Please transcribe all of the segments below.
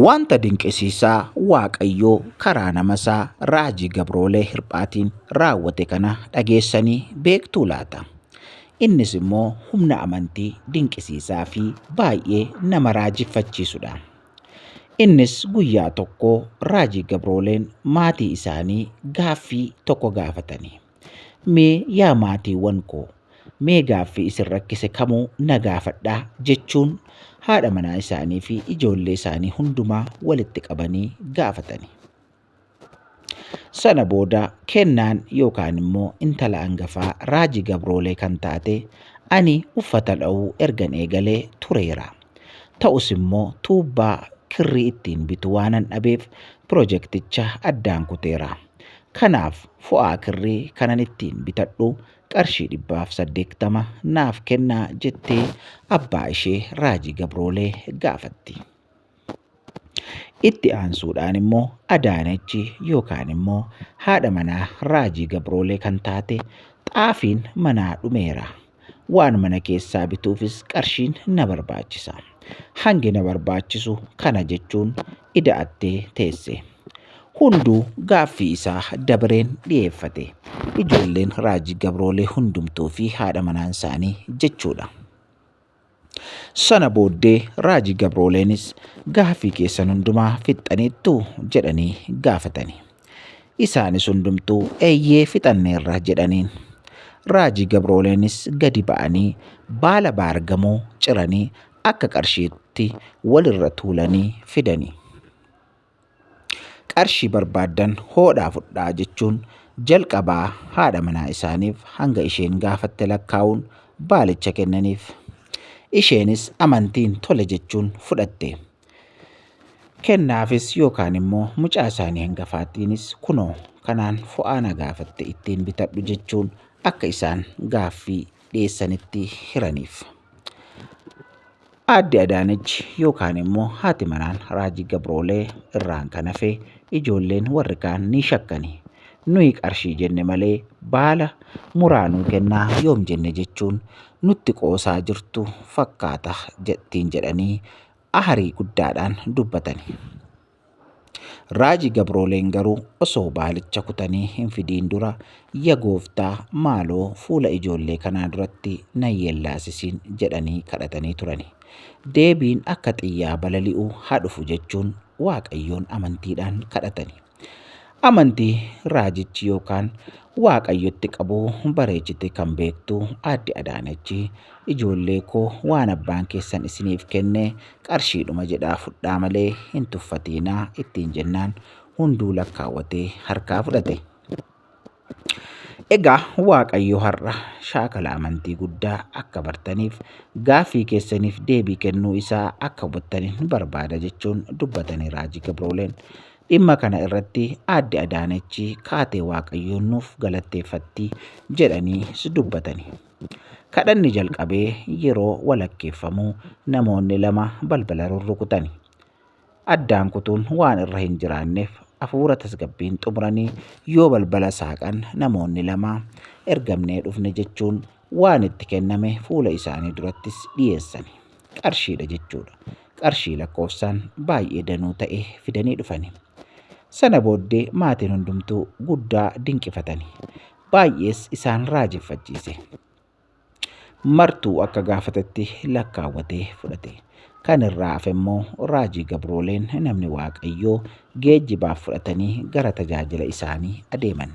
Wanta dinqisiisaa Waaqayyo karaa namasaa raajii gabroolee hirphaatiin raawwate kana dhageessanii beektuu laata? Innis immoo humna amantii dinqisiisaa fi baay'ee nama raajeffachiisudha. Innis guyyaa tokko raajii gabrooleen maatii isaanii gaaffii tokko gaafatanii. Mee yaa maatiiwwan koo, mee gaaffii isin rakkise kamuu na gaafadhaa jechuun haadha manaa isaanii fi ijoollee isaanii hundumaa walitti qabanii gaafatani. Sana booda kennaan yookaan immoo intala angafaa raajii gabroolee kan taate ani uffata dha'uu ergan eegalee tureera. Ta'us immoo tuubbaa kirrii ittiin bitu waanan dhabeef pirojekticha addaan kuteera. Kanaaf fo'aa kirrii kanan ittiin bitadhu qarshii dhibbaaf saddeektama naaf kennaa jettee abbaa ishee Raajii Gabroolee gaafatti. Itti aansuudhaan immoo Adaanachi yookaan immoo haadha manaa Raajii Gabroolee kan taate xaafiin manaa dhumeera Waan mana keessaa bituufis qarshiin na barbaachisa. Hangi na barbaachisu kana jechuun ida'attee teesse. Hunduu gaaffii isaa dabareen dhiyeeffate. Ijoolleen Raajii Gabroolee hundumtuu fi haadha manaan isaanii jechuudha. Sana booddee raajii gabrooleenis gaafii keessan hundumaa fixxaniittu jedhanii gaafatani. Isaanis hundumtuu eeyyee fixanneerra jedhaniin. Raajii gabrooleenis gadi ba'anii baala baargamoo ciranii akka qarshiitti walirra tuulanii fidani. Qarshii barbaaddan hoodhaa fudhaa jechuun jalqabaa haadha manaa isaaniif hanga isheen gaafatte lakkaa'uun baalicha kennaniif. Isheenis amantiin tole jechuun fudhatte. Kennaafis yookaan immoo mucaa isaanii hangafaatiinis kunoo kanaan fo'aa na gaafatte ittiin bitadhu jechuun akka isaan gaaffii dhiyeessanitti hiraniif. Aadde Adaanech yookaan immoo haati manaan Raajii Gabroolee irraan kan hafe ijoolleen warri kaan ni shakkani. Nuyi qarshii jenne malee baala muraa nuu kennaa yoom jenne jechuun nutti qoosaa jirtu fakkaata ittiin jedhanii aharii guddaadhaan dubbatani. Raaji gabrooleen garuu osoo baalicha kutanii hin fidiin dura ya gooftaa maaloo fuula ijoollee kanaa duratti na yeellaasisiin jedhanii kadhatanii turani. Deebiin akka xiyyaa balali'u haa dhufu jechuun Waaqayyoon amantiidhaan kadhatani. Amantii raajichi yookaan Waaqayyotti qabu bareechitee kan beektu Aadde Adaanachi, ijoollee koo waan abbaan keessan isiniif kenne qarshiidhuma jedhaa fudhaa malee hin tuffatiinaa ittiin jennaan hunduu lakkaawwatee harkaa fudhate. Egaa Waaqayyo har'a shaakala amantii guddaa akka bartaniif gaaffii keessaniif deebii kennuu isaa akka hubattaniin barbaada jechuun dubbatanii Raajii Gabrooleen Dhimma kana irratti Aadde Adaanech kaatee Waaqayyoon nuuf galatteeffatti jedhaniis dubbatani. Kadhanni jalqabee yeroo walakkeeffamu namoonni lama balbala rurrukutani. Addaan kutuun waan irra hin jiraanneef hafuura tasgabbiin xumuranii yoo balbala saaqan namoonni lama ergamnee dhufne jechuun waan itti kenname fuula isaanii durattis dhiyeessani. qarshiidha jechuudha. Qarshii lakkoofsaan baay'ee danuu ta'e fidanii dhufani. Sana booddee maatiin hundumtuu guddaa dinqifatani. Baay'ees isaan raajeffachiise. Martuu akka gaafatetti lakkaawwatee fudhate. Kan irraa hafe immoo raajii gabrooleen namni waaqayyoo geejjibaaf fudhatanii gara tajaajila isaanii adeeman.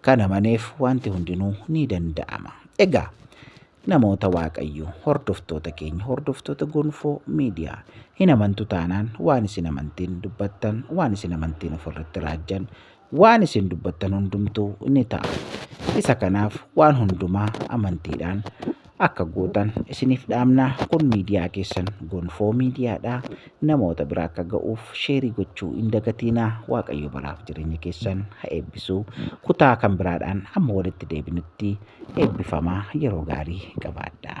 Kan amaneef wanti hundinuu ni danda'ama. Egaa Namoota Waaqayyoo, hordoftoota keenya, hordoftoota Gonfoo Miidiyaa, hin amantu taanaan waan isin amantiin dubbattan, waan isin amantiin ofirratti raajjan, waan isin dubbattan hundumtuu ni ta'a. Isa kanaaf waan hundumaa amantiidhaan akka gootan isiniif dhaamna. Kun miidiyaa keessan Gonfoo Miidiyaadha. Namoota bira akka ga'uuf sheerii gochuu hin dagatiinaa. Waaqayyo baraaf jireenya keessan ha eebbisu. Kutaa kan biraadhaan amma walitti deebinutti. Eebbifamaa yeroo gaarii qabaadhaa.